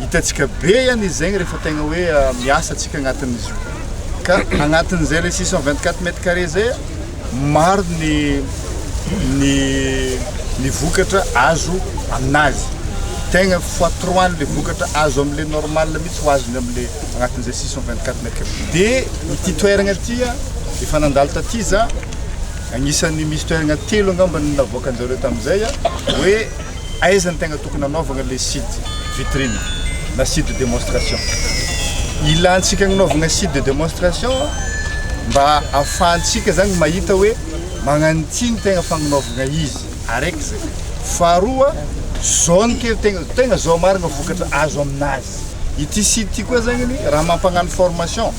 Hitantsika be ihany izy zegny rehefa tegna hoe miasa antsika agnatin'izy io. Ka agnatin'izay le 624 mètres carrés zay, maro ny ny ny vokatra azo aminazy. Tegna fois trois le vokatra azo amle normal mihitsy ho azony amle agnatin'izay 624 mètres carrés. De ity toeragna ity a, efa nandalo taty za, agnisan'ny misy toeragna telo angambany navoakanjareo tamizay a, hoe Aiza ny tegna tokony hanaovagna le site vitrine na site de demonstration? Ilantsika agnanaovagna site de demonstration mba ahafahantsika zagny mahita hoe magnano ity ny tegna fagnanaovagna izy, araiky zay. Faharoa, zao ny kely tegna, tegna zao marigna vokatra azo aminazy. Ity site ty koa zagnany raha mampagnano formation,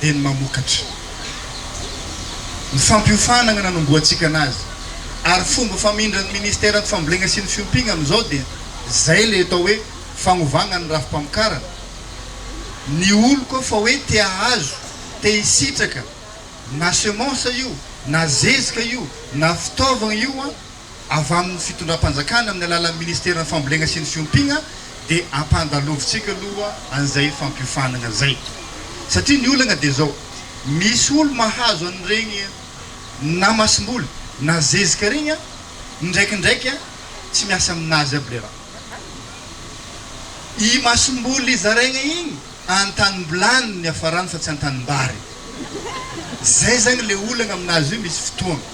dia ny mamokatra. Ny fampiofanana nanombohantsika anazy ary fomba famindran'ny Ministeran'ny Fambolena sy ny Fiompiana amin'izao dia izay ilay atao hoe fagnovagna ny rafi-pamokarana. Ny olo koa fa hoe te ahazo, te hisitraka na semence io, na zezika io, na fitaovagna io an! avy amin'ny fitondram-panjakana amin'ny alalan'ny ministeran'ny fambolena sy ny fiompiana dia ampandalovitsika aloha an'izay fampiofanana izay satria ny olana dia izao misy olo mahazo an'ireny na masomboly na zezika ireny an indraikindraiky an tsy miasa aminazy aby le raha i masomboly zaraina iny antanimbolany ny afarany fa tsy antanimbary zay zany le olana aminazy io misy fotoana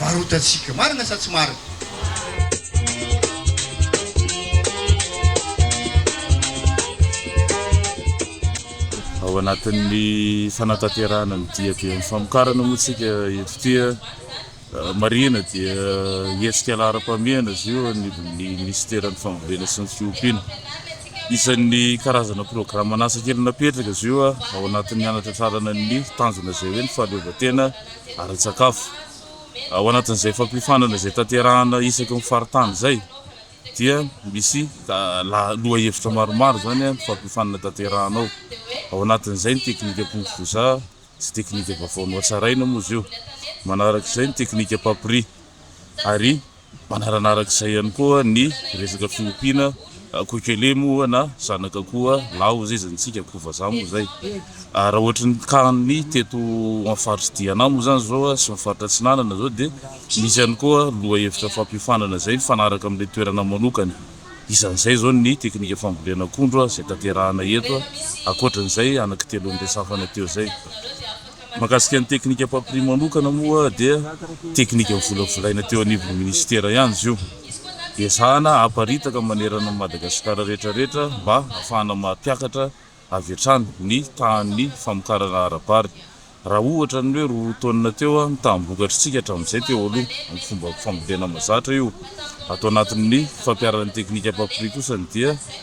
varotantsika. Marina sa tsy marina? Ao anatin'ny fanatanterahana ny diaben'ny famokarana moa tsika eto tia eh, marihina dia hetsika laharam-pahamehana izy io ny minisiteran'ny fambolena sy ny fiompiana. Isan'ny karazana programan'asa kely napetraka izy io ah, ao anatin'ny hanatratrarana ny tanjona izay hoe ny fahaleovantena ara-tsakafo. Ao anatin'izay fampiofanana izay tanterahana isaky ny faritany izay dia misy lohahevitra maromaro izany amin'ny fampiofanana tanterahana ao. Ao anatin'izay ny teknikam-pinofoza sy teknika vaovao nohatsaraina moa izy io. Manarak'izay ny teknikam-pampiriha ary. Manarana araka izay ihany koa ny resaka fiompiana koikele moa na zanaka koa laho zay zany tsika ko vazaha moa zay ary raha ohatry ny tany teto amin'ny faritra Diana moa zany zao sy ny faritra atsinanana zao dia misy ihany koa loha hevitra fampiofanana izay mifanaraka amin'ilay toerana manokana isan'izay zao ny teknika fambolena akondro izay tanterahana eto ankoatran'izay anakitelo noresafana teo zay. Mahakasika ny teknika papier manokana moa dia teknika novolavolaina teo anivon'ny minisitera ihany izy io. Ezahana haparitaka manerana an'i Madagasikara rehetra rehetra mba hahafahana mampiakatra avy hatrany ny tahan'ny famokarana ara-bary. Raha ohatra ny hoe roa taonina teo ny taham-bokatr'isika hatramin'izay teo aloha amin'ny fomba fambolena mahazatra io ato anatin'ny fampiaran'ny teknika papier kosa ny dia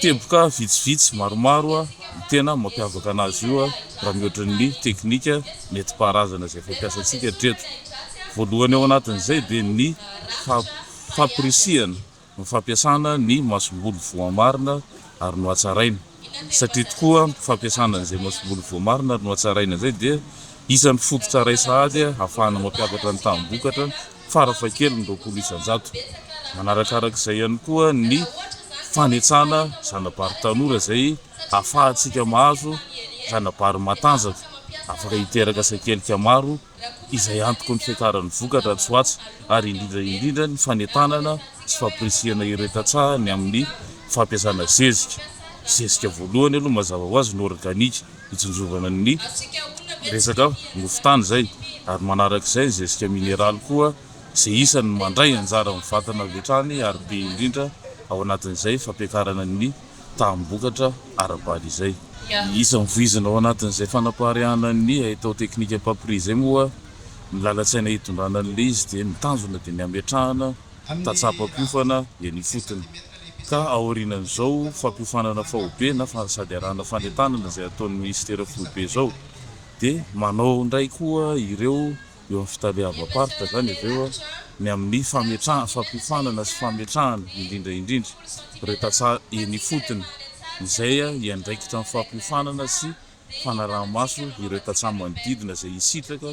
Teboka vitsivitsy maromaro no tena mampiavaka anazy io raha mihoatra ny teknika nentim-paharazana izay fampiasantsika hatreto. Voalohany ao anatin'izay dia ny fampirisihana ny fampiasana ny masomboly voamarina ary nohatsaraina satria tokoa ny fampiasana an'izay masomboly voamarina ary nohatsaraina izay dia isan'ny fototra iray sahady ahafahana mampiakatra ny taham-bokatra farafahakeliny roapolo isan-jato. Manarakaraka izay ihany koa ny fanetsana zana-bary tanora izay afahantsika mahazo zana-bary matanjaka afaka hiteraka sakelika maro izay antoky ny fiakaran'ny vokatra atsy ho atsy ary indrindra indrindra ny fanentanana sy fampirisihana ireo tantsaha ny amin'ny fampiasana zezika. Zezika voalohany aloha mazava ho azy ny organika. hitsinjovana ny resaka mofon-tany izay ary manaraka izay ny zezika mineraly koa izay isan'ny mandray anjara amin'ny vatana avy hatrany ary be indrindra ao anatin'izay fampiakarana ny taham-bokatra ara-bady izay. Ny isan'ny voizina ao anatin'izay fanapariahana ny haitao teknika Papri izay moa ny lalan-tsaina hitondrana an'ilay izy dia ny tanjona dia ny hametrahana tatsaham-pampiofana eny ifotony, ka aorianan'izao fampiofanana faobe na sady arahana fanentanana izay ataon'ny minisitera foibe izao dia manao indray koa ireo eo amin'ny fitaleavam-paritra izany avy eo ny amin'ny fametrahana, fampiofanana sy fametrahana indrindra indrindra ireo tantsaha eny ifotony izay hiandraikitra ny fampiofanana sy fanaraha-maso ireo tantsaha manodidina izay hisitraka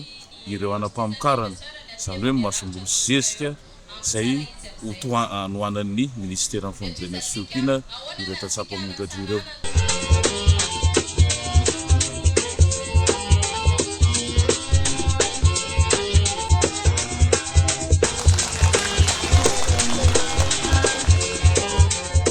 ireo hanam-pamokarana, izany hoe masomboly sy zezika izay ho tohanohanan'ny minisiteran'ny Famodirana sy Fiompiana ireo tantsaha mpamokatra ireo.